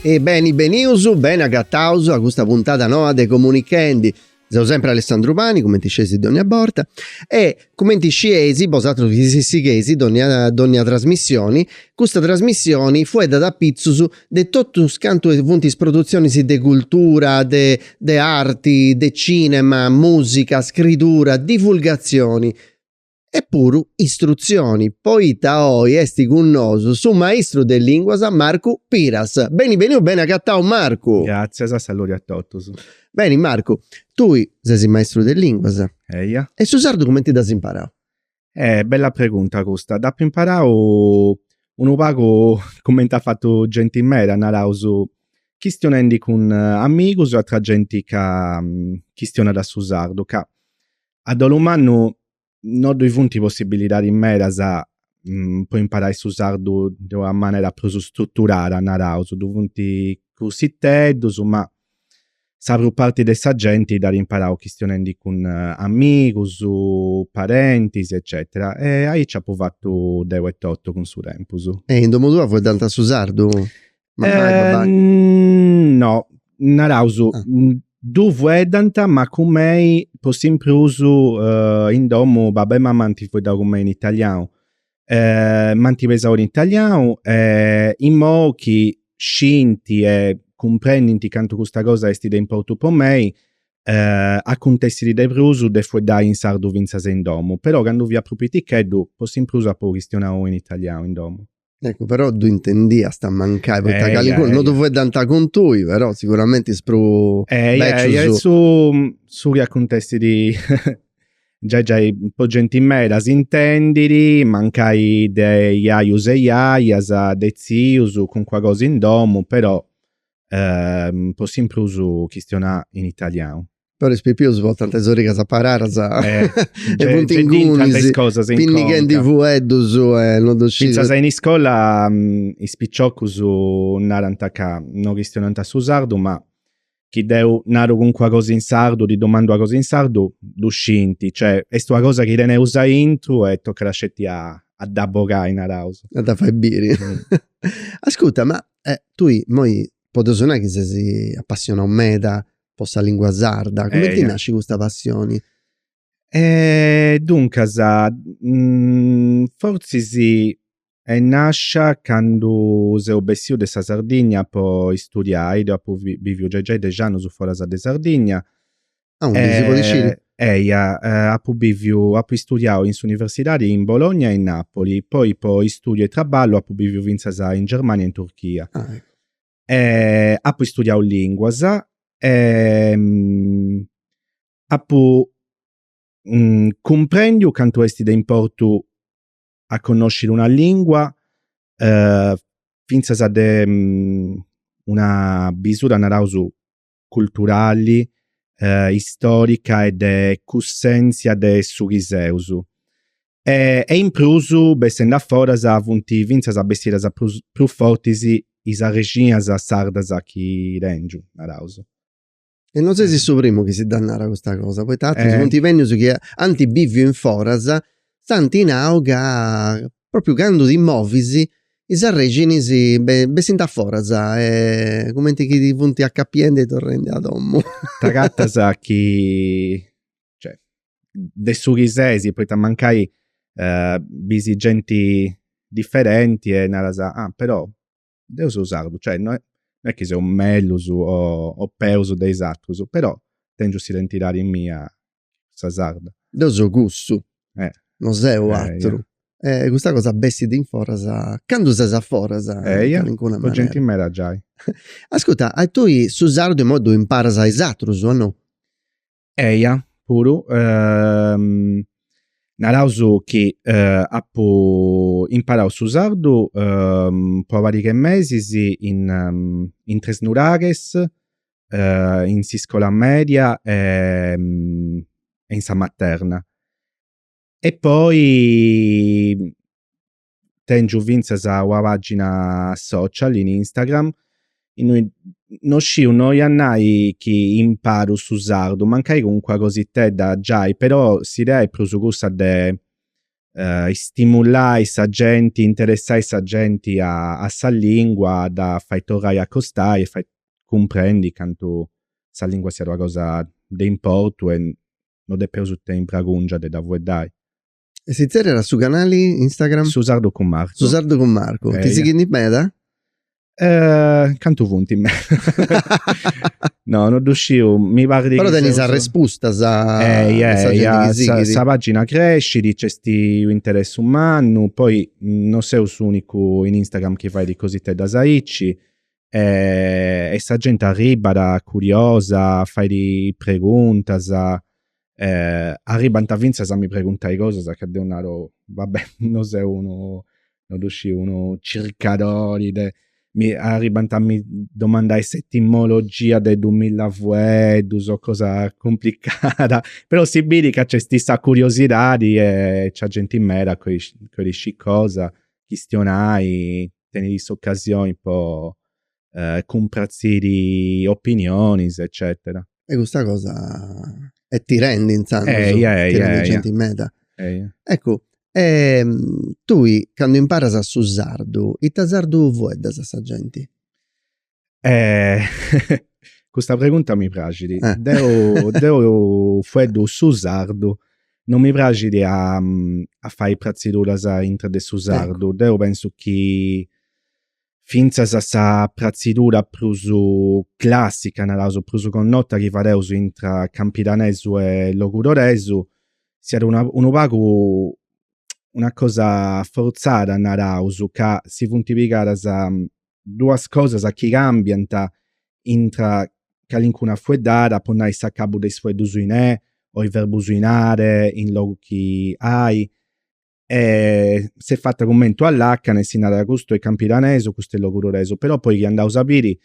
E beni benius, beni agataus a custa puntada noa de Comunichendi. Seu sempre Alessandru Pani, cumenti scieis dònnia borta, e cumenti scieis bosatrus chi si sigheis dònnia dònnia trasmissioni, custa trasmissioni fueddat apitzus de totus cantu funt is produtzionis de cultura, de de arti, de cinema, mùsica, scridura, divulgatzioni, e puru istrutzioni, poita oi est cun nosu su maistru de lìnguas Marcu Piras. Beni beniu, beni agatau Marcu! Gràtzias, saludi a totus. Beni Marcu, tui ses maistru de lìnguas. Eia. E su sardu cumenti dd'as imparau? Eh, bella pregunta custa. Dd'apu imparau unu pagu cumenti at fatu genti meda, naraus, chistionendi cun amigus e atra genti ca chistionat su sardu ca A dolu mannu no ddoi funt possibilidadis medas po imparai su sardu de una manera prus struturada, naraus, ddoi funt cursiteddus, ma sa prus parti de sa genti dd'at imparau chistionendi cun amigus, parentis eccetera. E aici apu fatu deu etotu cun su tempus. E in domu tua fueddant su sardu? Eh, no, naraus, ah. ddu fueddant, ma cun mei po s'in prus uh, in domu babbu e mamma anti fueddau cun mei in italianu. Eh, m'anti pesau in italianu e eh, imoi chi scinti e cumprendinti cantu custa cosa esti de importu po mei, eh, acontessit de prus de fueddai in sardu finzas in domu, però candu fia prus piticheddu po s'in prus apu chistionau in italianu in domu. Eccu però ddu intendiast mancai poita eh, calincunu eh, no ddu fueddant cun tui però siguramenti is prus eh, becius su su chi acuntessit giai giai po genti meda s'intendiri mancai de jajus e jajas de tzius calincuna cosa in domu però po s'in prus chistionai in italianu Però is pipius portant is origas aparadas e funt ingunis, pinnighendi fueddus e non ddu scis. Fintzas in iscola is piciocus narant ca no chistionant su sardu ma chi deu naru calincuna cosa in sardu, ddi domandu una cosa in sardu, ddu scint, cioè est una cosa chi teneus aintru e tocat sceti a dda bogai, naraus. A dda fai biri. Ascurta, ma tui imoi podeus nai chi ses apassionau meda po sa lingua sarda. Cumenti nasci custa passioni? E duncas forzis est nascia candu seu bessiu de sa Sardigna po istudiai, deu apu biviu giai giai dexi annus foras de Sardigna. Aundi, si podit sciri? Eia, apu biviu, apu istudiau in s'universidadi in Bologna e in Nàpoli, poi po istudiu e trabballu apu biviu finzas in Germania e in Turchia. eh, apu istudiau linguas e mm, apu mm, cumprendiu cantu esti de importu a connosciri una lingua eh, fintzas de mm, una bisura narausu culturali, istorica e de cussenzia de su chi seus. E e in prus bessendi a foras funt fintzas bessidas prus prus fortis is arrexinias sardas chi tengiu, naraus. E no sesi su primu chi si dda narat, custa cosa, poita atrus funt bennius chi ant biviu in foras si ant nau ca propriu candu ti movis is arrexinis bessint a foras e cumenti chi ti funt acapiendi e torrendi a domu. T'acatas chi, cioè, de su chi sesi, poita mancai bis genti differenti e naras, ah però deu seu sardu, cioè no è no è chi seu mellus o peus de is atrus, però tengiu s'identidadi mia sa sarda. Deu seu cussu, no seu ateru. E custa cosa bessit in foras, candu ses a foras in calincuna manera. Po genti meda giai. Ascurta, tui su sardu immoi ddu imparas a is atrus o no? Eia, puru. Naraus chi apu imparau su sardu po una pariga de mesis in in Tresnuraghes, uh, in s'iscola media e, mm, e in sa materna. E poi mm, tengiu finzas una pagina social in Instagram innoi no sciu no ia a nai chi imparu su sardu, mancai calincuna cositedda giai, però s'idea è prus cussa de uh, istimulai sa genti, interessai sa genti a, a sa lingua, dda fai torrai a acostai e fai cumprendi cantu sa lingua siat una cosa de importu e no depeus tenni bregungia de dda fueddai. E si tzerriat su canali Instagram? Su Sardu cun Marcu. Su Sardu cun Marcu. Ti sighint meda? Eh, cantu funt in meda? no, non ddu sciu, mi parrit Però tenis arrespustas a eh, eja, sa, eja, sa, sa pagina crescit, nc'est unu interessu mannu, poi non seu s'unicu in Instagram chi fait cositeddas aici e, e sa genti arribat curiosa, fait preguntas eh, arribant finzas a mi preguntai cosas ca deu naru, vabbè, no seu unu, no ddu sciu, unu circadori de, mi arribant a mi domandai s'etimologia de dumilla fueddus o cosa cumplicada, però si biri ca nc'esti sa curiosidadi e nc'est genti meda ca bolit scì cosa, chistionai, teniri s'occasioni po eh, cumpratziri opinionis, eccetera. E custa cosa e ti rendi inzandus, eh, eja, ti rendi eja, gente eja. meda. Eh, eja. Ecco, eh, tui candu imparas su sardu, ita sardu fueddas a sa gente? Eh, custa pregunta mi praxit. Eh. Deu, deu fueddu su sardu, non mi praxit a, a fai prazziduras intra de su sardu. Ecco. Deu pensu chi fintzas a sa pratzidura prus clàssica, naraus prus connota chi fadeus intra campidanesu e logudoresu, siat una unu pagu una cosa fortzada, naraus, ca si funt pigadas duas cosas chi càmbiant intra calincuna fueddada, po nai s'acabu de is fueddus in e o is verbus in are in logu chi ai, e s'est fata cumenti una làcana e si narat custu est campidanesu, custu est logudoresu, però poi chi andaus a biri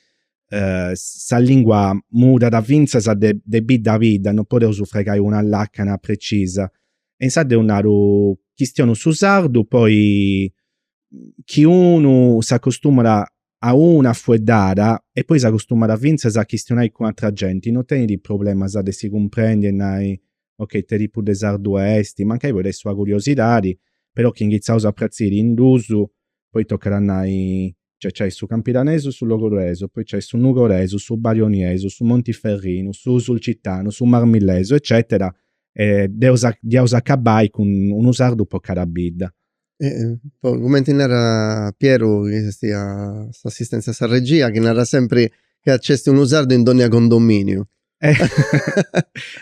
sa lingua mudat fintzas de de bidda a bidda, non podeus fregai una làcana precisa e insaras deu naru chistionu su sardu poi chi unu s'acostumat a una fueddada e poi s'acostumat fintzas a chistionai cun atra genti, no tenit problemas de si cumprendi e nai Ok, ite tipu de sardu esti? Mancai podit essi una curiosidadi, però chi inghitzaus a pratziri in dus, poi tocat a nai Cioè nc'est su campidanesu, su logudoresu, poi nc'est su nugoresu, su barioniesu, su montiferrinu, su sulcitanu, su marmillesu, eccetera, e dd'eus dd'iaus acabai cun unu sardu po cada bidda. cumenti narat Pieru chi est a s'assistentzia a sa regia chi narat sempri chi nc'est unu sardu in dònnia condominiu.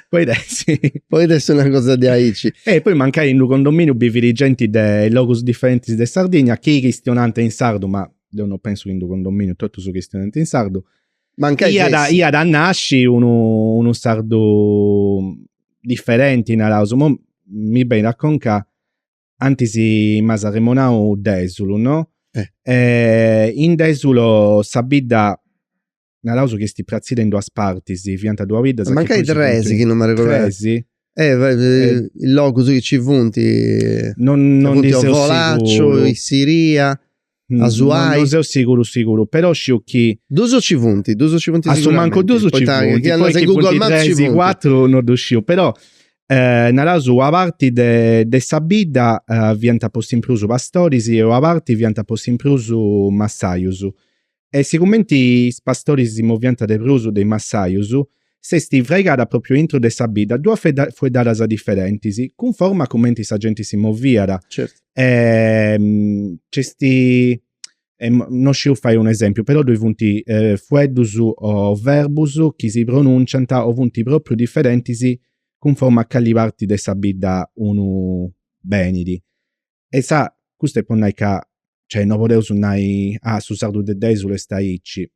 Podit essi podit essi una cosa diaici. E poi mancai in d'unu condominiu bivit genti de logus diferentis de Sardigna chi chistionant in sardu ma deu non pensu chi in d'unu condominiu totus chistionent in sardu. Mancai fessit. Iat iat a nasci unu unu sardu diferenti naraus, mi benit a conca antis m'as arremonau Dèsulu, no? Eh. E in Dèsulu sa bidda naraus chi est pratzida in duas partis, fiant duas biddas. Mancai tres, chi non m'arregodu. Tres? Eh, eh, is logus chi ci funt. Non, non ndi seu siguru. Ovolacciu, Issiria. Asuai. Non seu siguru siguru, però sciu chi. Duus ci funt, duus ci funt siguramente. A su mancu duus ci funt, chi andas in Google Maps ci funt. cuatru non ddu sciu, però naraus una parti de de sa bidda fiant po s'in prus pastoris e una parti fiant po s'in prus massajus e sigumenti is pastoris si moviant de prus de is massajus s'est fraigada pròpriu intro de sa bidda duas fueddadas diferentis, cunforma a cumenti sa genti si moviat. Certu. E nc'est e no sciu fai un esempiu, però ddoi funt fueddus o verbus chi si pronùnciant o funt pròpriu diferentis cunforma a cali parti de sa bidda unu benit. E insà, custu est po nai ca, cioè, no podeus nai, ah, su sardu de Dèsulu est aici.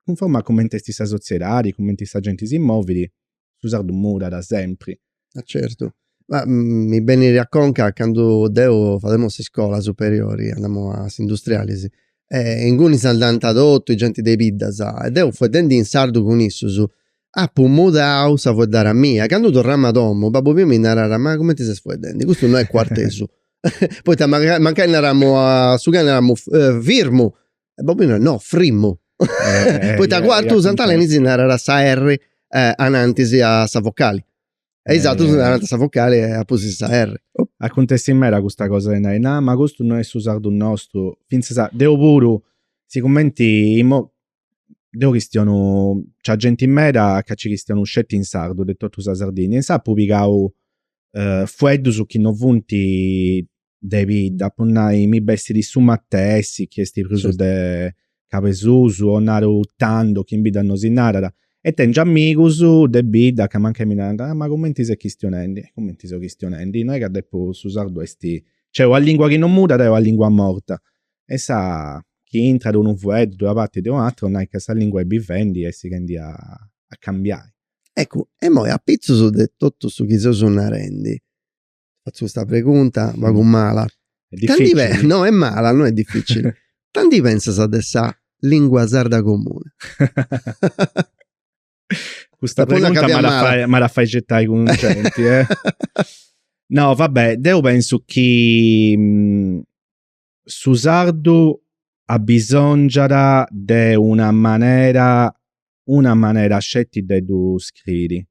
Cunforma a cumenti est sa sotziedadi, cumenti sa genti si movidi, su sardu mudat sempri. Ah certu. Ma mi benit a conca candu deu, fademu s'iscola superiori, andamu a s'industrialis, e inguni s'andant totu is genti de is biddas, e deu fueddendi in sardu cun issus, Apu mudau sa fueddara mia. Candu torramu a domu, babbu miu mi narat, ma cumenti ses fueddendi? Custu no est cuartesu. Poita mancai, mancai naramu a su cani, naramu firmu. E babbu miu narat, no, frimmu. Poita Cuartu Sant'Aleni si narat sa erri anantis a sa vocali. E is atrus narant sa vocali e a pustis sa erri. Acuntessit meda custa cosa de nai, nah, ma custu no est su sardu nostru. Fintzas deu puru, sigumenti immo deu chistionu cun genti meda ca ci chistionu sceti in sardu de tottu sa Sardigna insaras appu pigau fueddusu chi no funti de bidda po nai mi bessidi su matessi chi esti prusu de cabesusu o naru tandu chi in bidda no si narada e tengiu amigusu de bidda ca mancai mi naranta ah ma cumenti ses chistionendi e cumenti seu chistionendi no è ca deppu su sardu esti cioè una lingua chi no mudada est una lingua morta insà chi intrat unu fueddu de una parti e de u'atera nai ca sa lingua est bivendi e sighendi a cambiai. Eccu, immoi apitzus de totu su chi seus narendi, fatzu custa pregunta pagu mala, difficili, no est mala no est difficili, ita ndi pentzas de sa lingua sarda comuni? Custa pregunta m'at a fai certai cun genti eh. No va bè, deu pentzu chi su sardu abbisòngiat de una manera una manera sceti de ddu scriri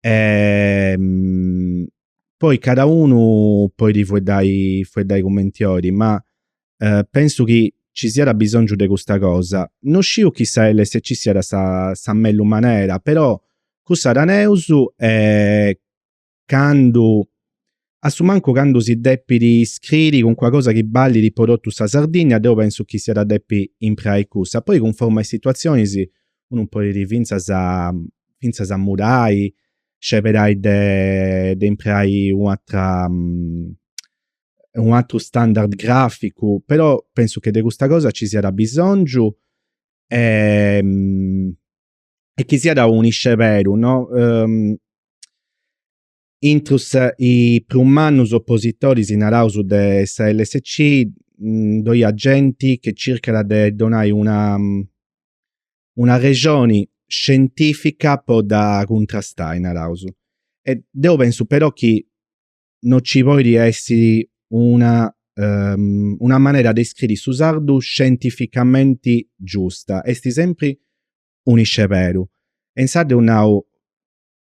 e poi cada unu poidi fueddai fueddai cumenti olit ma pensu chi ci siat abbisòngiu de custa cosa no sciu chi sa LSC siat sa sa mellus manera però cussa teneus e candu, a su mancu candu si depit scriri cuncuna cosa chi ballit po totu sa Sardigna, deu pensu chi s'iat a depi impreai cussa. Poi cunforma is situazionis unu podit fintzas fintzas a mudai, sceberai de de impreai u' atra u' atru standard graficu, però pensu che de custa cosa ci siat abisongiu e e chi siat unu isceberu no intrus is prus mannus oppositoris naraus de sa LSC ddoi at genti chi circat de donai una una rexoni scientifica po dda cuntrastai naraus e deu pensu però chi no ci poidi essiri una um, una manera de scriri su sardu scientificamenti giusta, esti sempri un isceberu. E insaras deu nau,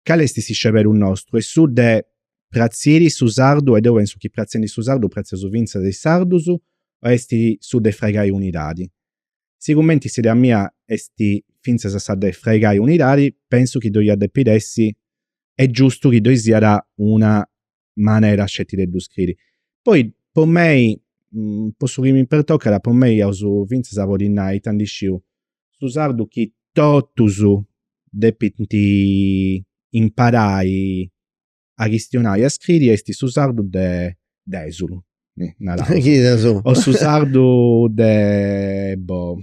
cali esti s'isceberu nostru? Est su de pratziri su sardu, e deu pensu chi pratzendi su sardu pratzeus finzas is sardus, o esti su de fraigai unidadi? Sigumenti s'idea mia est fintzas sa de fraigai unidadi, pensu chi ddoi iat depiri essi est giustu chi ddoi siat una manera sceti de ddu scriri. Poi po mei, po su chi mi pertocat, po mei iaus fintzas a podi nai ita ndi sciu, su sardu chi totus depint imparai a chistionai e a scriri esti su sardu de Desulu, narausu, o su sardu de, boh,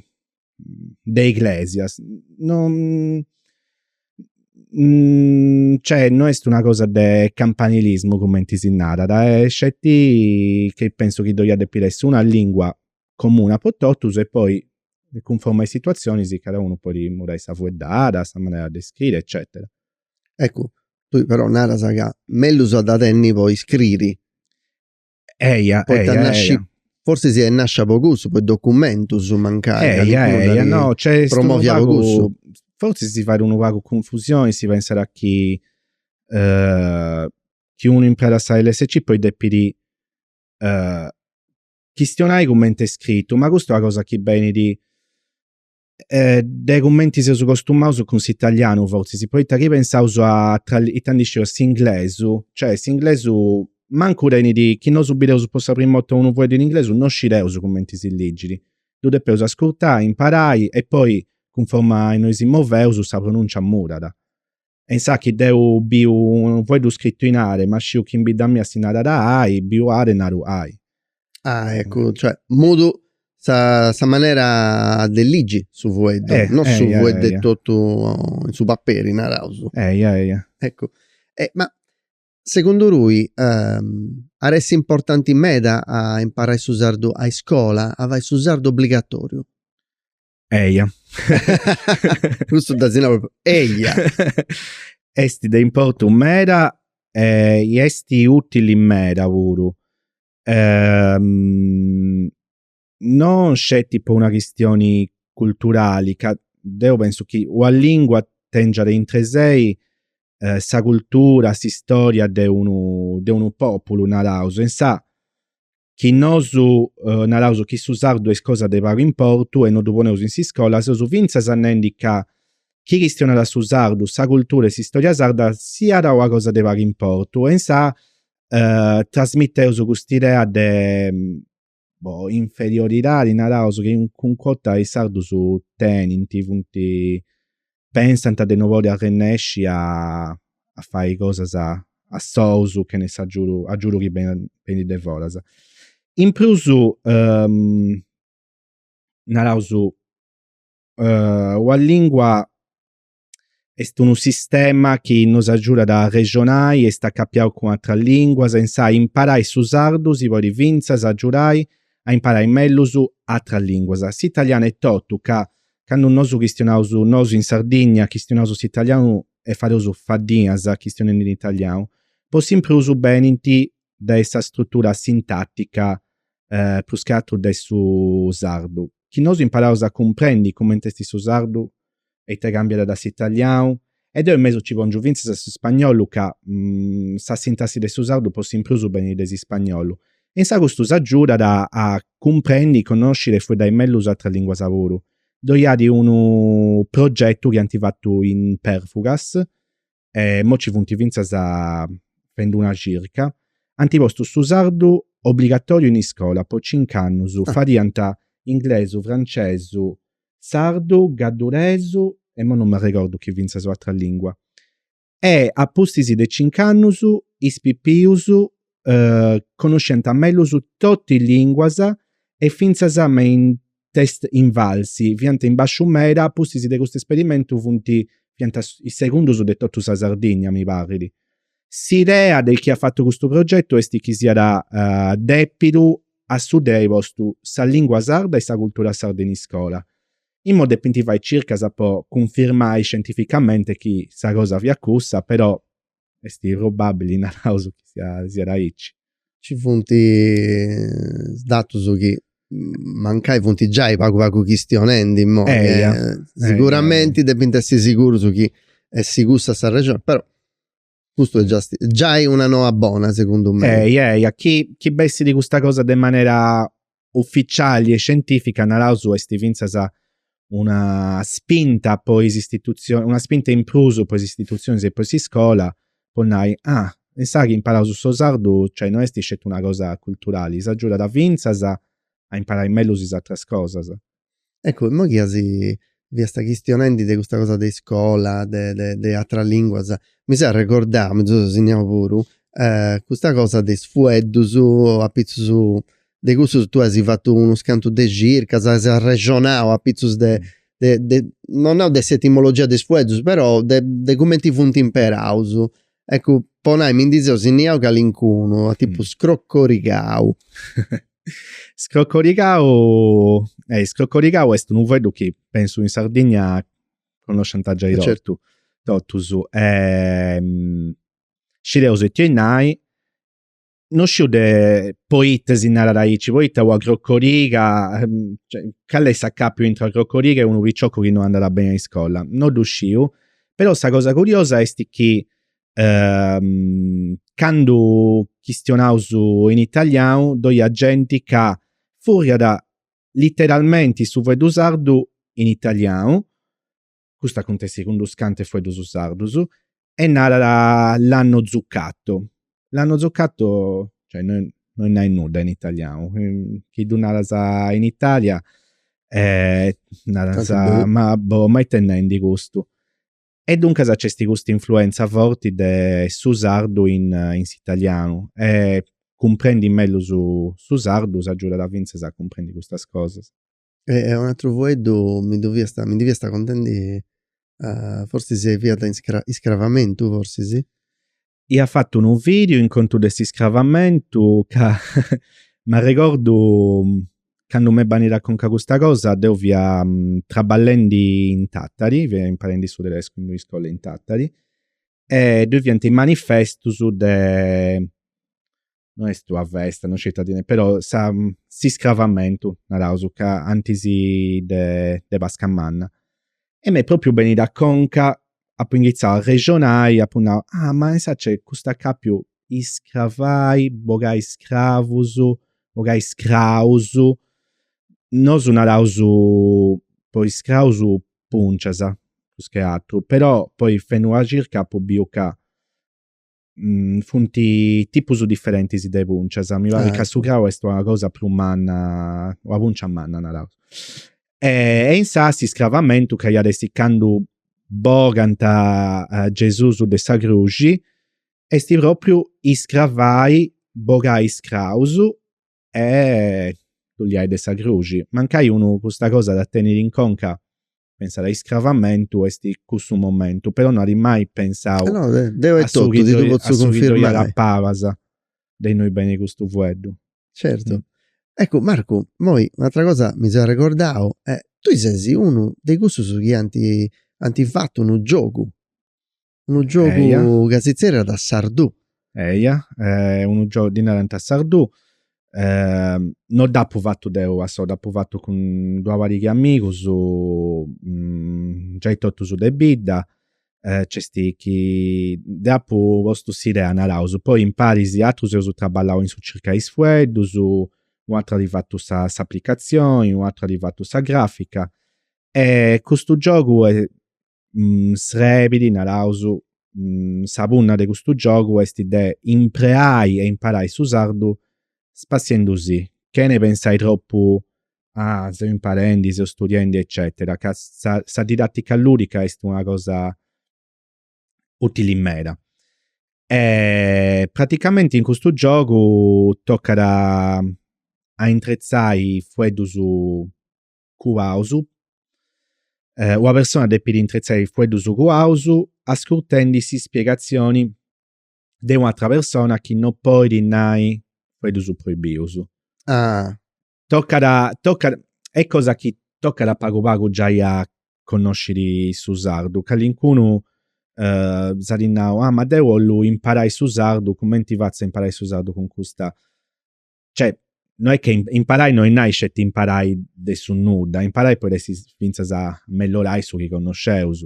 de Iglesias, non, cioè, no esti una cosa de campanilismu cumenti si narat, est sceti chi pensu chi ddoi iat depi essi una lingua comuna po totus e poi cunforma a is situazionis cadaunu podi murai sa fueddada, sa manera de scriri eccetera. Eccu, tui però naras ca mellus a dda tenni po iscriri. Eia, Poita eia, nasci- eia. Forsi siat nascia po cussu, po is documentus mancai. ca Eia, calincunu eia, dd'at no, nc'est unu promovia po pagu, cussu. fortzis si fait unu pagu cunfusioni, si pensat chi chi unu impreat sa LSC poi depit chistionai cumenti est scritu, ma custa est una cosa chi benit eh, de cumenti seus costumaus cun s'italianu fortzis, poita chi pensaus a itandisciu a s'inglesu, cioè s'inglesu mancu tenit, chi nosu bideus po sa prima 'orta unu fueddu in inglesu no scideus cumenti si ligit, ddu depeus ascurtai, imparai e poi cunforma a innui si moveus sa pronuncia mudat. E insa chi deu biu unu foeddu scrittu in are, ma sciu chi in bidda mia si narat ai, biu are e naru ai. Ah, eccu, cioè, mudu sa, sa manera de ligi su fueddu, eh, no su eia, fueddu eia. totu in su paperi, naraus. Eia, eia. Eccu, e, ma segundu tui ehm, iat essi importanti meda a imparai su sardu a iscola, a fai su sardu obligatoriu? Eia. Cussu dda si nau propriu eia. Est de importu meda e est ùtili meda puru. non sceti po una chistioni culturali ca deu pensu chi una lingua tengiat intre sei sa cultura, s'istòria de unu, de unu pòpulu naraus. In sa chi nosu naraus chi su sardu est cosa de pagu importu e no ddu poneus in s'iscola, seus fintzas nendi ca chi chistionat su sardu, sa cultura e s'istòria sarda siat una cosa de pagu importu e insa trasmiteus cust'idea de inferioridadi, naraus, chi calincuna 'orta is sardus tenint, funt pensant de no podi arrennesci a a fai cosas a sous chene s'agiudu agiudu chi benit de foras. In prus naraus una lingua est unu sistema chi nos agiudat a arrexonai e est acapiau cun ateras linguas e insa imparai su sardu si podit finzas agiudai a imparai mellus ateras linguas. S'italianu etotu ca Candu nosu chistionaus nosu in Sardigna, chistionaus s'italianu e fadeus faddinas chistionendi in italianu, po s'in prus benint de sa strutura sintatica eh, prus che atru de su sardu, chi nosu imparaus a cumprendi cumenti est su sardu e ita cambiat da s'italianu E deu in mesu ci pongiu fintzas a s'ispagnolu ca sa sintassi de su sardu po s'imprus benit de s'ispagnolu. Insa custu s'agiudat a cumprendi, connosciri e fueddai mellus is atras linguas puru. Ddoi iat unu progetu chi ant fatu in Perfugas e immoi ci funt fintzas fendi una circa, ant postu su sardu obligatoriu in iscola po cincu annus, fadiant inglesu, francesu, sardu, gadduresu e mo non m'arregordu chi fintzas un'atra lingua e a pustis de cinc'annus is pipius connosciant mellus totu is linguas e fintzas me is test invalsi fiant in basciu meda a pustis de custu esperimentu funt fiant is segundus de totu sa Sardigna mi parrit. S'idea de chi at fatu custu progetu est chi siat dèpidu a su de ai postu sa lìngua sarda e sa cultura sarda in iscola. Immo depint fai circas po cunfirmai scientificamente chi sa cosa fiat cussa, però est probàbili, naraus, chi siat aici. ci funt is datus chi mancai funt giai pagu pagu chistionendi imoi e siguramenti depint essi sigurus chi est cussa sa rexoni però custu est giai una noa bona segundu mei. Eia eia chi chi bessit custa cosa de manera ufficiali e scientifica naraus est fintzas una spinta po is istitutzionis, una spinta in prus po is istitutzionis e po s'iscola po nai, ah insaras imparaus su sardu, cioè no est sceti una cosa culturali, s'agiudat fintzas a imparai mellus is atras cosas. Eccu, imoi chi fiasta chistionendi de custa cosa de iscola, de de de ateras linguas, mi seu arregordau, mi ddu seu signau puru, custa cosa de is fueddus, apitzus de cussus tui as fatu unus cantus de circas, as arrexonau apitzus de de, non nau de s'etimologia de is fueddus, però de cumenti funt imperaus Eccu, po nai, mi ndi seu sinniau calincunu, a tipu scrocorigau. Scrocorigau, eh, scrocorigau est unu fueddu chi pensu in Sardigna connoscianta giai totu. Certu. Totus. Scideus it'est a nai, no sciu de poite si narat aici, poita una crocoriga, ehm, cioè, cale est s'acapiu intra una crocoriga e unu piccioccu chi no andat beni a iscola, no ddu sciu, però sa cosa curiosa est chi ehm candu chistionaus in italianu ddoi at genti ca furriat literalmenti su fueddu sardu in italianu custu acuntessit cun unus cantu 'e fueddus sardus e narat l'hanno zuccato, l'hanno zuccato cioè no oit nai nudda in italianu, chi ddu naras in Italia naras ma boh ma it'est nendi custu e duncas nc'est custa influenza forti de su sardu in s'italianu e cumprendi mellus su sardu s'agiudat finzas a cumprendi custas cosas. E unu atru fueddu mi ddu fiast mi ndi fiast contendi forsis e fiat iscravamentu forsis. Ia fatu unu vidiu in contu de s'iscravamentu ca m'arregordu candu m'est benida a conca custa cosa deu fia traballendi in Tàtari, fia imparendi su tedescu in un'iscola in Tàtari e ddoi fiant is manifestus de no est una festa, no sciu ita ddi nai, però sa, s'iscravamentu, naraus ca antis de de Pasca Manna. E m'est propriu benida a conca, apu inghitzau a arrexonai, apu nau, ah ma insaras nc'est custu acapiu, iscravai, bogai scravus, bogai scraus, nosu naraus po iscraus pùncias, prus che atru, però poi fendu una circa apu biu ca Mm, funt tipus diferentis de pùncias. Mi parit ah, ca su crau est una cosa prus manna, una pùncia manna, naraus. E, e insas s'iscravamentu ca iat essi candu bogant uh, Gesùs de sa cruxi, est propriu iscravai, bogai is craus e ddu liai de sa cruxi. Mancai unu custa cosa dda tenit in conca Pensat a iscravamentu est cussu momentu, però no at mai pensau eh no, eh, deu etotu, ti ddu potzu cunfirmai. A su chi paras de innoi benit custu fueddu. Certu. Eccu, Marcu, moi un'atra cosa mi seu arregordau, tui ses unu de cussus chi anti anti fatu unu giogu Unu giogu ca si tzerriat Sardù. Eia, eh, unu giogu ddi narant Sardù. Eh, non dd'apu fatu deu a sou, dd'apu fatu cun d'una pariga 'e amigus, mm, giai totus de bidda, eh, nc'est chi deu apu postu s'idea, naraus, poi imparis atrus eus traballau in su circai is fueddus, u atru at fatu sa s'aplicazioni, u atru at fatu sa grafica e custu giogu mm, srebit, naraus, mm, sa punna de custu giogu est de impreai e imparai su sardu spassiendu si, chene pensai tropu a seu imparendi, seu studiendi eccetera, ca sa sa didattica ludica est una cosa utili meda. Praticamenti in custu giogu tocat a intretzai fueddus cuaus, una persona depit intretzai is fueddus cuaus ascurtendi s'ispiegatzioni de una atra persona chi no podit nai fueddus proibius. Ah. Tocat a, tocat, est cosa chi tocat a pagu pagu giai a connosciri su sardu, callincunu s'at nau, ah ma deu 'ollu imparai su sardu, cumenti fatzu a imparai su sardu cun custa cioè, no est che imparai no est nai sceti imparai de su nudda, imparai podit essi fintzas mellorai su chi connosceus.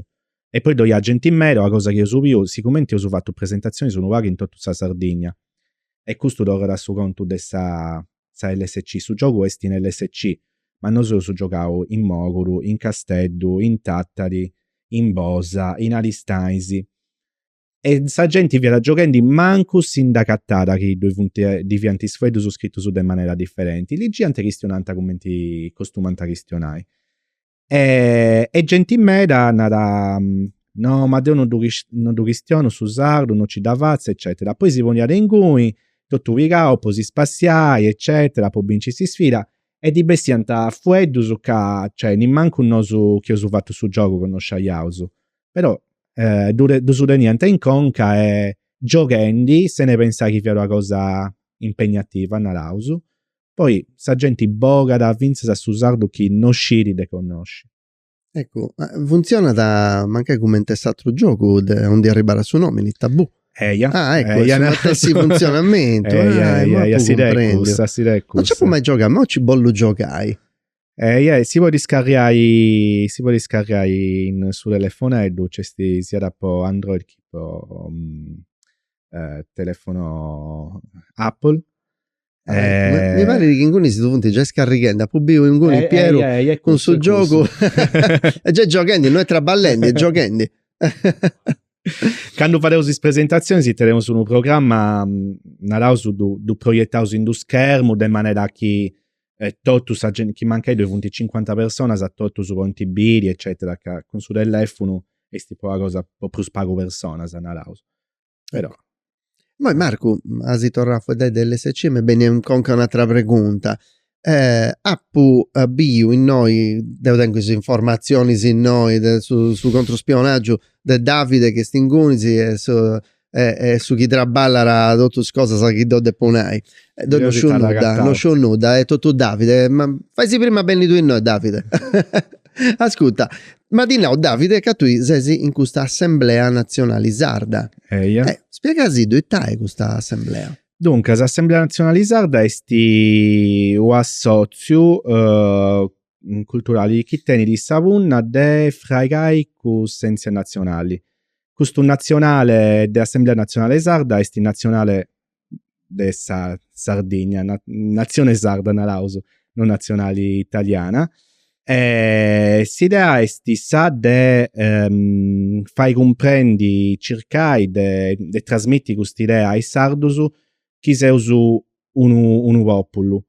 E poi ddoi at genti meda, una cosa chi eus biu, sigumenti eus fatu presentatzioni unu pagu in totu sa Sardigna, e custu torrat a su contu de sa sa LSC, su giogu est in LSC, ma nosu eus giogau in Moguru, in Casteddu, in Tattari, in Bosa, in Aristanis, e sa genti fiat gioghendi mancu si nd'acatàt chi ddoi funt ddi fiant is fueddus scritus de manera diferenti ligiant chistionant cumenti costumant a chistionai e e genti meda narat no ma deu no ddu no ddu chistionu su sardu no ci dda fatzu eccetera poi si poniat inguni totu pigau po si spassiai eccetera po binci sa sfida e ddi bessiant fueddus ca cioè nemmancu nosu chi eus fatu su giogu connosciaiausu però eh, ddus teniant in conca e gioghendi sene pensai chi fiat una cosa impegnativa, naraus, poi sa genti bogat fintzas a su sardu chi no scit de connosci. Eccu, funtzionat mancai cumenti s'atru giogu de ondi arribarat su nomini, tabù. Eia, ah, ecco, eia, no. su funtzionamentu. Eia, ah, eia, eia, si de cussu, si de cussu. No nc'apu mai giogau, ma nci bollu giogai. Eh, eia, si podit scarriai, si podit scarriai in su telefoneddu, nc'est siat po Android chi po mm, eh, telefono Apple. Ah, eh, mi parit chi inguni si ddu funt giai scarrighendi, apu biu inguni eh, Pieru eh, eia, eia, cun su giogu, est giai gioghendi, no est traballendi, est gioghendi. Candu fadeus is presentazionis teneus unu programma, mm, naraus, ddu, ddu proietaus in d-unu schermu de manera chi e totu sa gente, chi mancai doi funt cincuanta personas, totus podint biri, eccetera, ca cun su tellefunu esti po una cosa, po prus pagu personas, naraus. Però. Imoi Marcu, as torrau a faeddai de LSC, m'est bennia in conca un'atera pregunta. apu biu innoi, deu tengu is informatzionis innoi de su su controspionagiu de Davide chi est inguni est su e, est su chi traballat totu is cosas chi deu depu nai. E deu non sciu nudda, non sciu nudda, est totu Davide, ma faisi prima a benni tui innoi Davide. Ascurta, m'at nau Davide ca tui sesi in custa Assemblea Natzionali Sarda. Eia. E spiegasiddu ita est custa Assemblea. Duncas, Assemblea Natzionali Sarda esti u' assotziu culturali chi tenidi sa punna de fraigai cussentzia natzionali. Custu natzionale de Assemblea Natzionale Sarda est natzionale de sa Sardigna, natzione sarda naraus, no natzionale italiana. S'idea est sa de fai cumprendi, circai de trasmiti cust'idea a is sardus chi seus unu populu.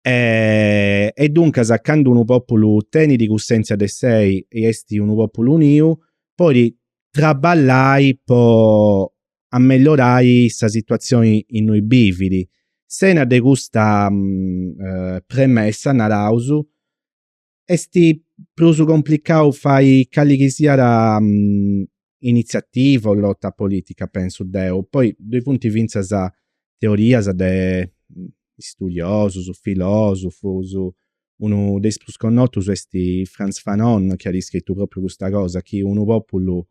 E, e duncas, candu unu pòpulu tenit cussèntzia de sei e est unu pòpulu uniu, podit traballai po amellorai sa situatzioni innui bivit. Sena de custa premessa, naraus, est prus complicau fai cali chi siat initziativa o lota politica pensu deu, poi ddoi funt fintzas teorias de studiosus, filosufus, unu de is prus connotus est Frantz Fanon chi at scritu propriu custa cosa chi unu populu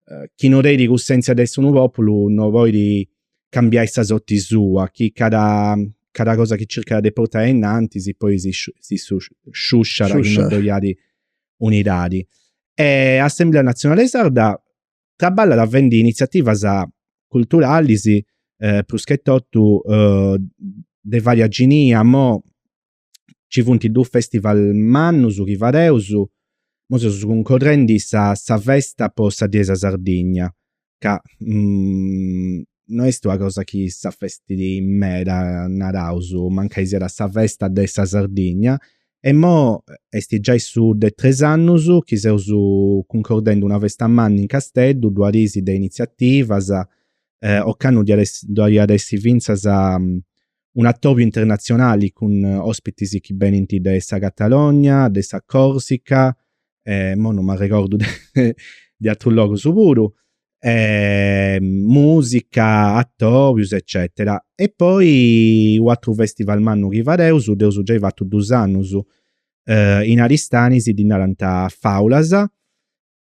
eh, chi no tenit cussenzia de essi unu populu no podit cambiai sa sorti sua, chi cada, cada cosa chi circat de portai innantis poi si, si su, sciusciat chi non ddoi at unidadi. E Assemblea Nazionale Sarda traballat fendi iniziativas culturalis eh, prus che totu eh, de varia genia, mo ci funt dus festival mannus chi fadeus, imoi seus cuncordendi sa festa po sa die 'e sa Sardigna ca no est una cosa chi s'afestidi meda naraus, mancai siat sa festa de sa Sardigna e imoi est giai su de tres annus chi seus cuncordendi una festa manna in Casteddu, duas dis de iniziativas, ocannu ddoi at a essi fintzas un'atòbiu internatzionali cun òspitis chi benint de sa Catalogna, de sa Còrsica, e mo non m'arregordu de, de atrus logus puru, e mùsica, atòbius eccètera. E poi un'atru festival mannu chi fadeus, dd'eus giai fatu dus annus, in Aristanis ddi narant Fàulas,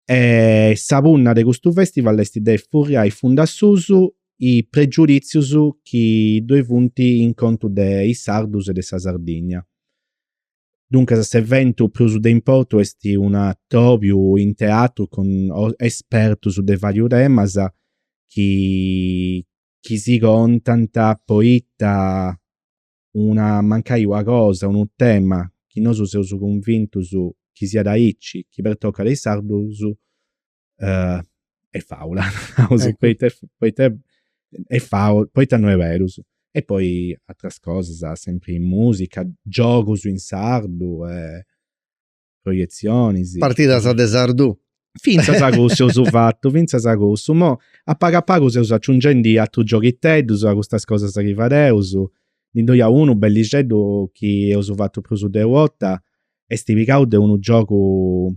E sa punna de custu festival est de furriai fund'a susu is pregiuditzius chi ddoi funt in contu de is sardus e de sa Sardigna. Duncas s'eventu prus de importu est un'atobiu in teatru cun espertus de varius temas chi chi si contant poita una mancai una cosa, unu tema chi nosu seus cunvintus chi siat aici chi pertocat is sardus est faula, naraus, poita poita est faula, poita no est berus. E poi ateras cosas, sempri musica, giogus in sardu e proietzionis. Partidas de sardu. Fintzas a cussu eus fatu, fintzas a cussu. Mo a pagu a pagu seus aciungendi atrus gioghiteddus a custas cosas chi fadeus. Ndi ddoi at unu bellixeddu chi eus fatu prus de u' 'orta, esti pigau de unu giogu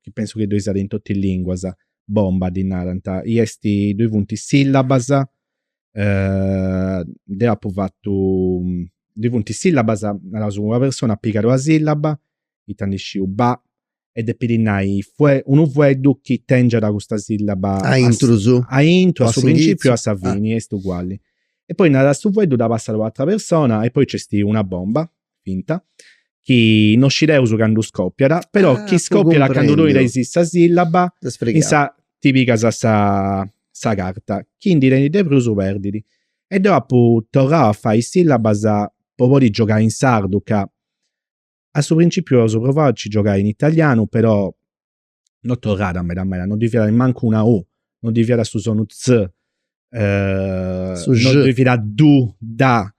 chi pensu chi ddoi siat in totu is linguas, bomba ddi narant, i esti, ddoi funt is sillabas deo apu fatu ddoi funt is sillabas, naraus una persona at pigau una sillaba, ita ndi sciu ba e depit nai unu fueddu chi tengiat custa sillaba a intrus, a intru a su principiu o a sa fini est uguali e poi narat su fueddu dda passat a u' atera persona e poi nc'est una bomba finta, chi no scideus candu scòpiat, però chi scòpiat candu tui tenis sa sìllaba insa' ti pigas sa carta, chi ndi tenit de prus perdit. E deu apu torrau a fai is sìllabas po podi giogai in sardu ca a su principiu eus provau a nci giogai in italianu però no torrada meda meda, no ddoi fiat mancu una u, no ddoi fiat su sonu tzz, no ddoi fiat du, da,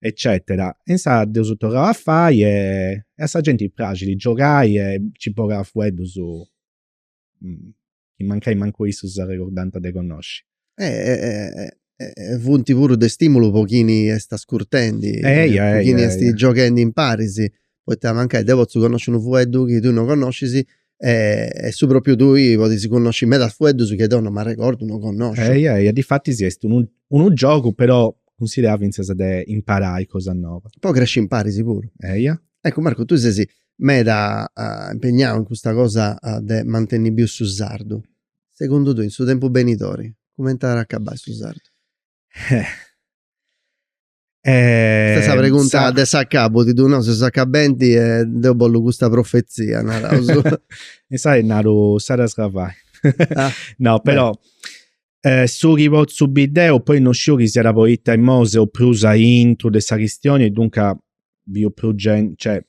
eccetera. E insaras dd'eus torrau a fai e a sa genti praxit giogai e nci bogat fueddus chi mancai mancu issus s'arregordant de connosci. e funt puru de stimulu po chini est ascurtendi po chini est gioghendi imparis poita mancai deu potzu connosci unu fueddu chi tui no connoscis e su propriu tui podis connosci medas fueddus chi deu no m'arregordu no connosciu ehi ehi e difatis sì est unu giogu però cunsiderau finzas de imparai cosas noas po cresci imparis puru ehi eccu Marco tui ses meda impegnau in custa cosa de mantenni biu su sardu segundu tui, in su tempus benidori, cumenti at a acabai su sardu? Custa est sa pregunta de s'acabu, ti ddu nau s'accabenti e deu bollu custa profezia, naraus. Insaras naru s'adas cavai. No, però su chi potzu biri deu, poi no sciu chi siat poita imoi seu prus aintru de sa chistioni e duncas biu prus genti, cioè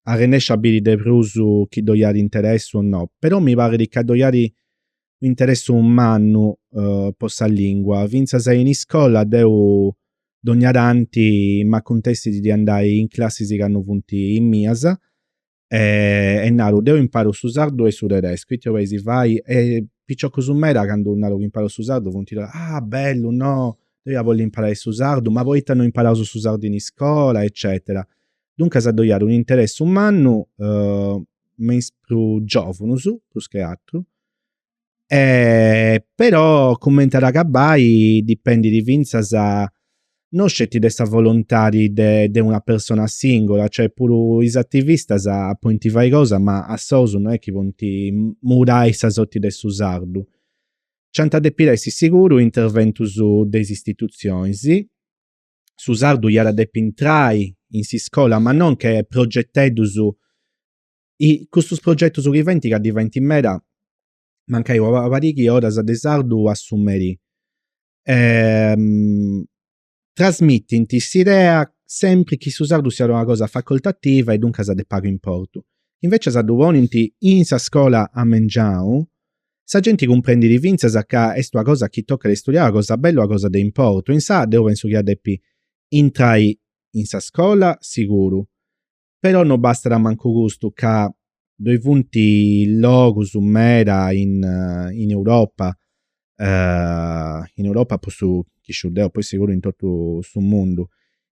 arrennesciu a biri de prus chi ddoi at interessu o no, però mi parit ca ddoi at u interessu mannu po sa lingua, finzas in iscola deu dogna tanti m'acuntessit de andai in classis chi no funt is mias e naru deu imparu su sardu e su tedescu, ita bois a fai e piciocus meda candu naru chi imparu su sardu funt là, ah bellu no, deu ia bolli imparai su sardu, ma poita no imparaus su sardu in iscola eccetera. Duncas ddoi at un'interessu mannu me is prus giovunus, prus che aturu, però cumenti at a acabbai dipendidi finzas non sceti de sa volontadi de de una persona singola, cioè puru is attivistas pointi fai cosa ma a sosu no est chi pointi mudai sa sorti de su sardu. Nc'iant a depiri essi siguru interventus de is istituzionis su sardu iat a depi intrai in s'iscola ma non che progeteddus custus progetus chi feint ca ndi feint meda mancai una pariga 'e oras de sardu a su merì e trasmitint s'idea sempri chi su sardu siat una cosa facoltativa e duncas de pagu importu. Invecias ddu ponint in sa scola a mengianu Sa genti cumprendit fintzas ca est una cosa chi tocat a istudiai, una cosa bella, una cosa de importu. Insà, deu pensu chi iat depi intrai in sa scola, siguru. Però no bastat mancu custu, ca ddoi funt logus meda in in Europa, in Europa po su chi sciu deu, poi siguru in totu su mundu,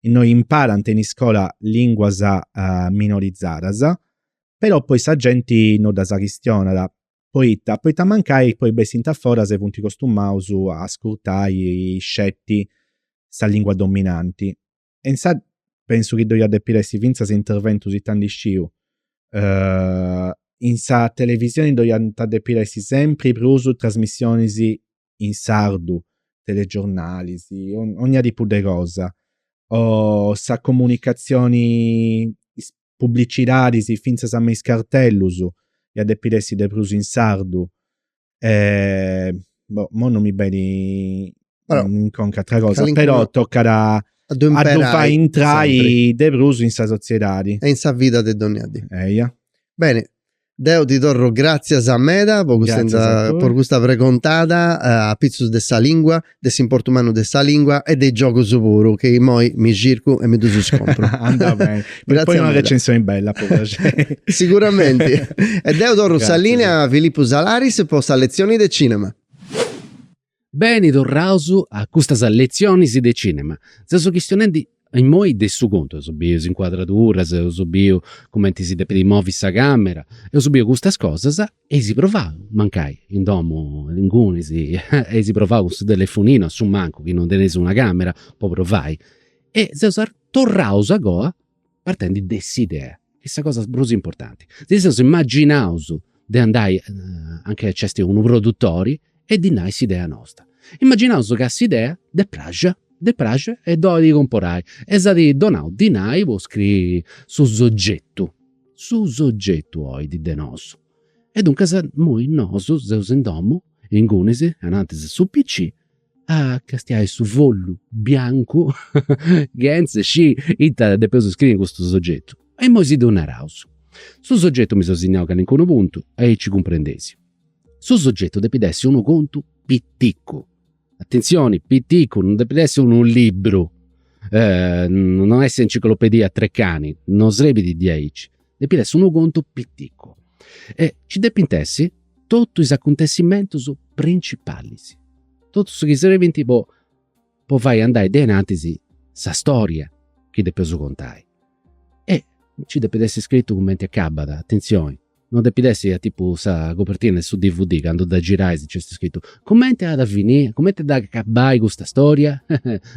innui imparant in iscola linguas minorizadas, però poi sa genti no ddas chistionat. Poita? Poita mancai poi bessint aforas e funt costumaus a ascurtai sceti sa lingua dominanti. E insà pensu chi ddoi iat depiri essi fintzas interventus ita ndi sciu in sa televisioni ddoi iant a depiri essi sempri prus trasmissionis in sardu, telegiornalis, ogna tipu de cosa. O sa comunicazioni, is publicidadis finzas me is cartellus iat deppiri essi de prus in sardu. Boh, imoi non mi benit in conca atra cosa, però toccada a ddu fai intrai de prus in sa soziedadi. E in sa vida de dogna dì. Eia. Beni, Deu ti torru gràtzias meda po custa, Gràtzias a tui. po custa pregontada eh, apitzus de sa lìngua, de s'importu mannu de sa lìngua e de is giogus puru, chi immoi mi circu e mi ddus compru. Andat beni. Poi Gràtzias una meda. recensioni bella po praxeri. Siguramenti. E deu torru sa Gràtzias. lìnea a Filippu Salaris po sa letzioni de cìnema. Beni torraus a custas letzionis de cinema. Seus chistionendi imoi de su contu. Eus biu is incuadraduras, eus biu cumenti si depit movi sa camera, eus biu custas cosas e eis provau, mancai in domu ingunis, eis provau cun su telefoninu a su mancu chi non teneis una camera po provai e seus torraus a goa partendi de s'idea, chi est sa cosa prus importanti, si seus immaginaus de andai anca nc'esti unu produtori e ddi nai s'idea nosta. Immaginaus ca s'idea dd'est praxia, dd'est praxia e dd'olit comporai e s'at donau dinai po scriri su sogetu, su sogetu olit de nosu. E duncas imui nosu seus in domu, ingunis, anantis a su PC a castiai su follu biancu chentze sci ita depeus scriri in custu sogetu. E immoi si ddu naraus. Su sogetu mi seu signau calincunu puntu, aici cumprendesi. Su sogetu depit essi unu contu piticu, atentzioni, piticu, non depit essi unu libru, non est s'enciclopedia Treccani, non srebit diaici. depit essi unu contu piticu e ci depint essi totu is acuntessimentus principalis, totu su chi serbint po po fai andai a innantis sa storia chi depeus contai. E ci depit essi scritu cumenti acabat, atentzioni, non depit essi a tipu sa copertina de su dvd candu dda girais nc'est scritu cumenti at a finì, cumenti at a acabai custa storia?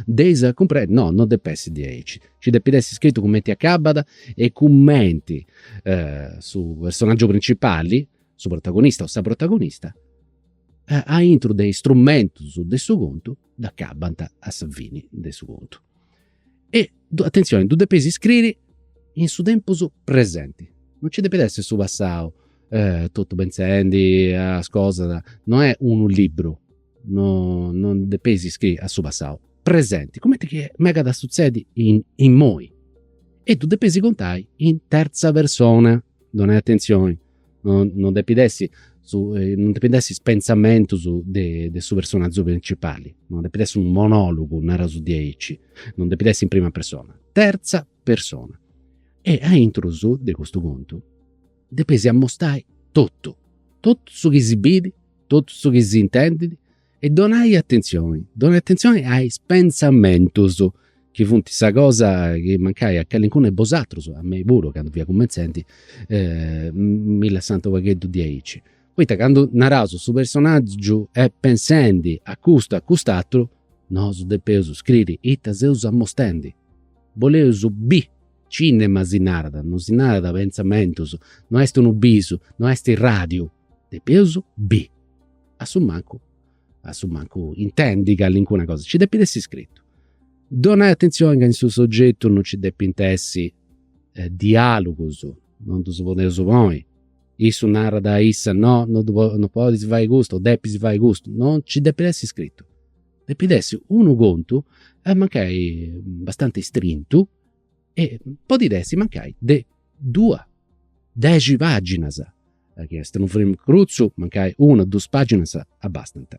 Deis a cumprendi? No, non depit essi diaici. Nci depit essi scritu cumenti acabat e cumenti su personaggiu principali, su protagonista o sa protagonista, aintru de is strumentus de su contu dd'acabant a sa fini de su contu. E atentzioni, ddu depeis scriri in su tempus presenti, non nci depit essi su passau totu pentzendi a is cosas, no est unu liburu no no depeis iscriri a su passau, presenti, cumenti chi megat a sutzedi immoi e ddu depeis contai in terza persona, donai atentzioni, no no depit essi su non depint essi is pentzamentus de su personagiu principali, no depit essi unu monologu, naraus diaici, non depit essi in prima persona, terza persona. E aintrus de custu contu depeis amostai totu, totu su chi si bit totu su chi s'intendit e donai atentzioni, donai atentzioni a is pentzamentus chi funt sa cosa chi mancai a calincunu 'e bosatrus, a mei puru candu fia cumentzendi, mi lassant u' pagheddu diaici. Poita candu naraus su personaggiu est pentzendi a custu e a cust'aturu, nosu depeus scriri ita seus amostendi. Boleus biri, cinema si narat, non si narat pentzamentus, no est unu bisu, no est radiu depeus biri, a su mancu a su mancu intendi calincuna cosa, nci depit essi scritu. Donai atenzioni ca in su sogetu non nci depint essi dialugus, non ddus podeus ponni, issu narat a issa, no no ddu podis fai custu o depis fai custu, no nci depit essi scritu. Depit essi unu contu e mancai abbastanti strintu e podit essi mancai de duas a dexi paginas, chi est unu film crutzu, mancai una duas paginas abastant.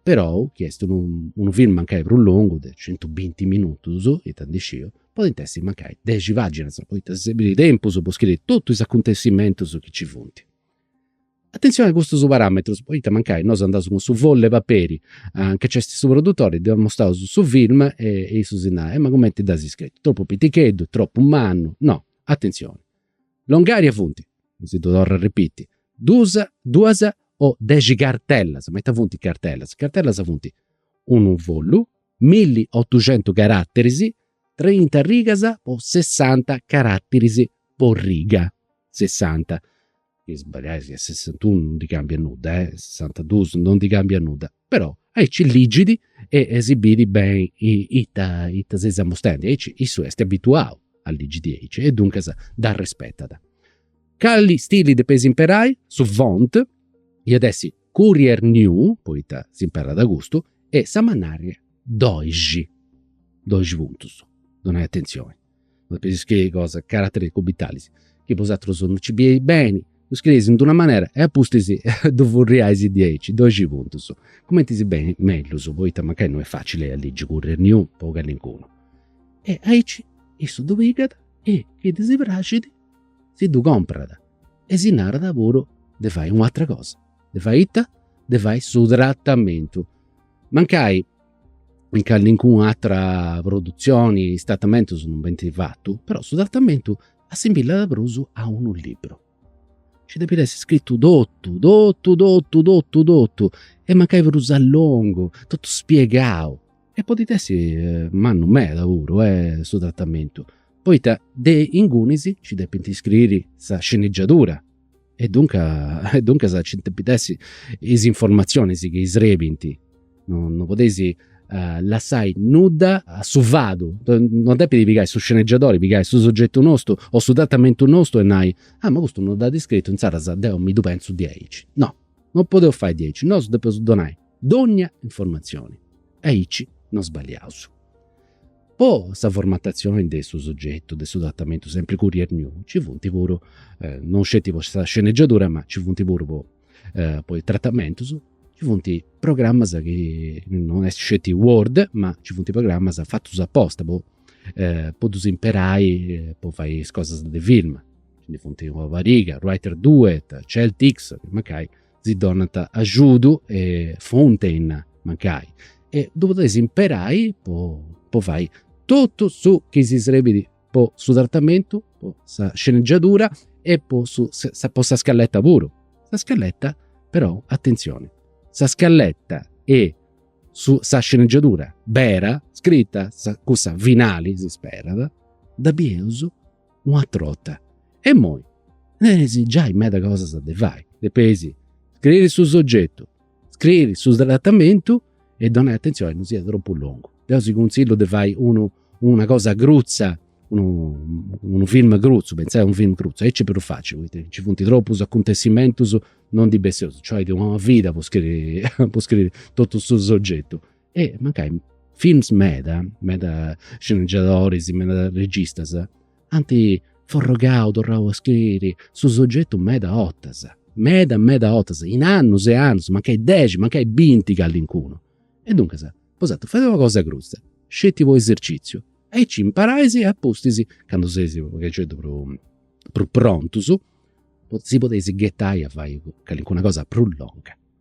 Perou chi est unu film mancai prus longu de centu binti minutus, ita ndi sciu, podint essi mancai dexi paginas, poita serbit tempus po scriri totus is acuntessimentus chi ci funt. Atentzione a custus paràmetrus, poita mancai nosu andaus cun su follu e paperi anca nc'est su produtori, dd'amostaus su film e issu si narat, ma cumenti dd'as scritu, tropu piticheddu, tropu mannu, no, atentzioni. Longària funt, si ddu torru a repiti, duus, duas o dexi cartellas, ma ita funt cartellas, cartellas funt unu follu, milli otuxentu carateris, trinta rigas po sessanta carateris po riga, sessanta. chi sballiais ca sessantunu non ndi cambiat nudda e sessantadus non ndi cambiat nudda, però aici ligit e si bit beni ita ita seis amostendi, aici issu est abituau a ligi diaici e duncas dd'arrespetat. Cali stili depeis imperai, su font iat essi courier new, poita s'imperat custu, e sa mannaria doxi, doxi puntus, donai atentzioni. no pisceis cosa, carateris cubitalis, chi bosatrus no nci bieis beni, ddu scrieis in d'una manera e a pustis ddu furriais diaici, doxi puntus, cumenti si benit mellus, poita mancai no est facili a ligi courier new po callincunu. E aici issu ddu pigat e chi ddi praxit si ddu comporat e si narat puru de fai u'atera cosa, de fai ita, de fai su tratamentu, mancai in callincuna atra produtzioni is tratamentus non benint fatus, però su tratamentu assimillat prus a unu liburu. Nci depit essi scritu totu totu totu totu totu e mancai prus a longu, totu spiegau. E podit essi mannu meda puru su tratamentu, poita de ingunis nci depint scriri sa sceneggiatura E duncas, e duncas nci depint essi is informatzionis chi serbint, no no podeis lassai nudda a su fadu, non depit pigai su sceneggiadori, pigai su soggetu nostu o su tratamentu nostu e nai, ah ma custu non dd'at scritu insaras deu mi ddu pentzu diaici. No, non podeus fai diaici, nosu depeus donai dogna informatzioni e aici non sballiaus. Po sa formatatzioni de su soggetu de su tratamentu sempri courier new ci funt puru, non sceti po sa sceneggiadura ma ci funt puru po po is tratamentus, ci funt programmas chi non est sceti word ma ci funt programmas fatus aposta po po ddus imperai po fai is cosas de film. Nci ndi funt una pariga, writer duet, celtx, mancai si donant agiudu e funt innia, mancai, e ddus podeis imperai po fai totu su chi si srebit po su tratamentu, po sa sceneggiadura e po sa scaletta puru. Sa scaletta però, atentzioni, sa scaletta e sa sceneggiadura bera, scrita cussa finali, si sperat, dda bieus una trota e moi teneis giai meda cosas de fai, depeis scriri su sogetu, scriri su tratamento e donai atenzioni a non siat tropu longu. Deu si cunzillu de fai unu una cosa crutza, unu film crutzu, pentzai a unu film crutzu, aici prus facili poita nci funt tropus acuntessimentus, non ndi besseus, cioè una vida po scriri po scriri totu su sogetu e mancai films meda, meda sceneggiadoris, meda registas ant forrogau, torrau a scriri su sogetu meda 'otas, meda meda 'otas, in annus e annus, mancai dexi, mancai binti callincunu. E duncas tocat a fai una cosa crutza, sceti po esercitziu, aici imparais e apustis, candu seis u' pagheddeddededdu prus prus prontus, si podeis ghetai a fai callincuna cosa prus longa.